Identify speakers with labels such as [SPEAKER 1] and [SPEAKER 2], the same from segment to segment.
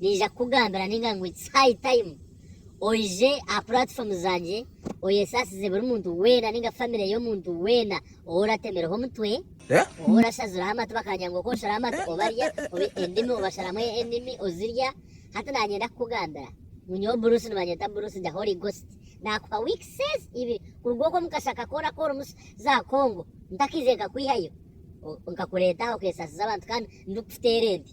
[SPEAKER 1] Naija kukugambira ninga ngu it's high time oije aha platform zangye oyesaasize buri muntu weena ninga family y'omuntu weena ou orateemireho omutwe, ou orashaziraho amatu bakagira ngu okooshera amatu obarya, oba endimi obasharamu endimi ozirya, hati naanyenda kukugambira ngu nyowe Bruce nibanyeta Bruce gya Holy Ghost, naakuha weeks ezi ibiri kuruga okwo omu kashaka ku orakuba orimu za Congo, ntakaize nkakwihayo, nkakureeta aha okeesaasiza abantu kandi ndikukuteera ente.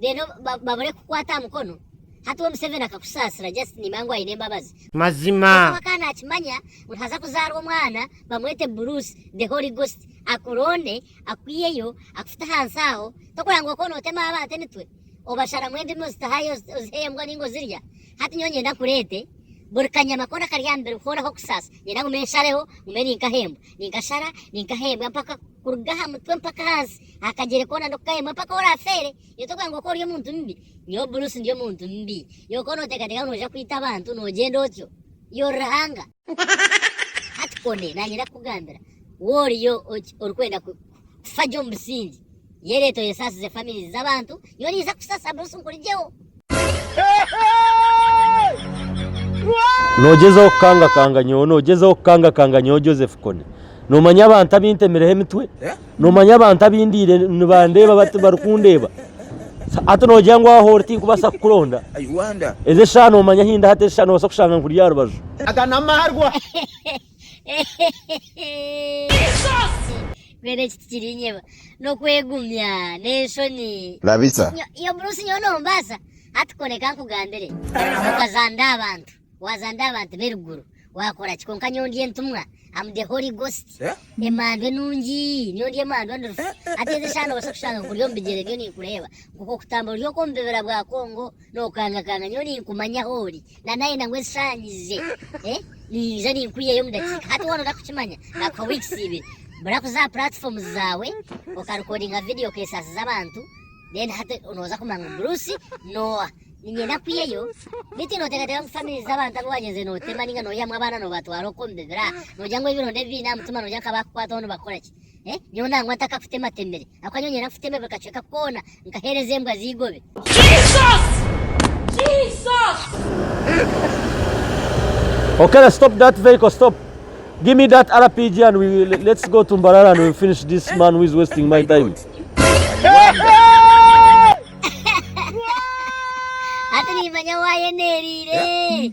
[SPEAKER 1] then babure kukwata aha mukono hati we museveni akakusaasira just nimanya ngu aine embabazi. Mazima. Kwonka we akaba nakimanya ngu nihaza kuzaarwa omwana bamwete Bruce the Holy Ghost akuronde akwiyeyo akufute ahansi aho tokurora ngu okaba notema abantu emitwe obasharamu endimi ozitahayo ozihe embwa ninga ozirya hati nyowe ninyenda nkureete buri kanyama koona akari aha mubiri hoona ahu okusaasa ninyenda ngume nshareho ngume ninkaha embwa ninkashara ninkaha embwa mpaka kuruga aha mutwe mpaka ahansi aha kagyere koona n'oku kaheemwe mpaka ou oraafeere, iwe tokugira ngu okaba ori omuntu mubi. Nyowe Bruce ndi omuntu mubi. Iwe okaba nooteekateeka ngu nooja kwita abantu noogyenda otyo? Iwe ori ruhanga? Hati Kone, naanye ndakukugambira, wowe oriyo orikwenda kufa gye omu busingye, yereeta oyesasize famirizi z'abantu Nyowe ninza kukusasa Bruce nkurigyeho. Noogyezaho kukangakanga nyowe, noogyezaho kukangakanga nyowe Joseph Kony. Noomanya abantu abu ntemireho emitwe? Noomanya abantu abu ndiire nibandeeba bati barikundeeba? Hati noogira ngu aho ori tinkubaasa kukuronda? Ezi eshaaha noomanya ahu ndi hati, ezi eshaaha noobaasa kushanga nkuri aha rubaju. Aga n'amarwa. Mbwenu eki tikiriinyeba. N'okwegumya. N'enshoni. Rabisa. Iyo buruusi nyowe noombaasa? Hati kora eka nkugambire. Okazanda abantu. Waazanda abantu b'eruguru. Waakora ki? Kwonka nyowe ndi entumwa. Am the Holy Ghost. Emandu enungi. Nyowe ndi emandu endurufu. Hati ezi eshaaha noobaasa kushanga nkuri omu bigyere byo ninkureeba. Nk'oku okutambura ori okw'omu bibira bwa Congo, nookangakanga nyowe ninkumanya ahu ori. na nayenda ngu ezisanyize ninza ninkuyeyo omu dakiika hati wona orakukimanya nakuha weeks ibiri bura kuza aha platforms zawe okarekodinga video okesasiza abantu then hati noza kumanya ngu Bruce nowa ninyenda kuyeyo beitu notekateka ngu family z'abantu abu wagyenzire notema ninga noyihamu abaana nobatwara okwo nibibira nogira ngu ebironda ebiine aha mutima nogira ngu abakukwataho nibakoraki Eh, nyowe nangwa ntakakutematemire akuba nyowe nyena nfuteeme buri kacweka koona nkaheereza embwa z'eigobe. Okay, let's stop that vehicle, stop. Give me that RPG and we will, let's go to Mbarara and we'll finish this man who is wasting my time. Ati nimanya wayeneeriire.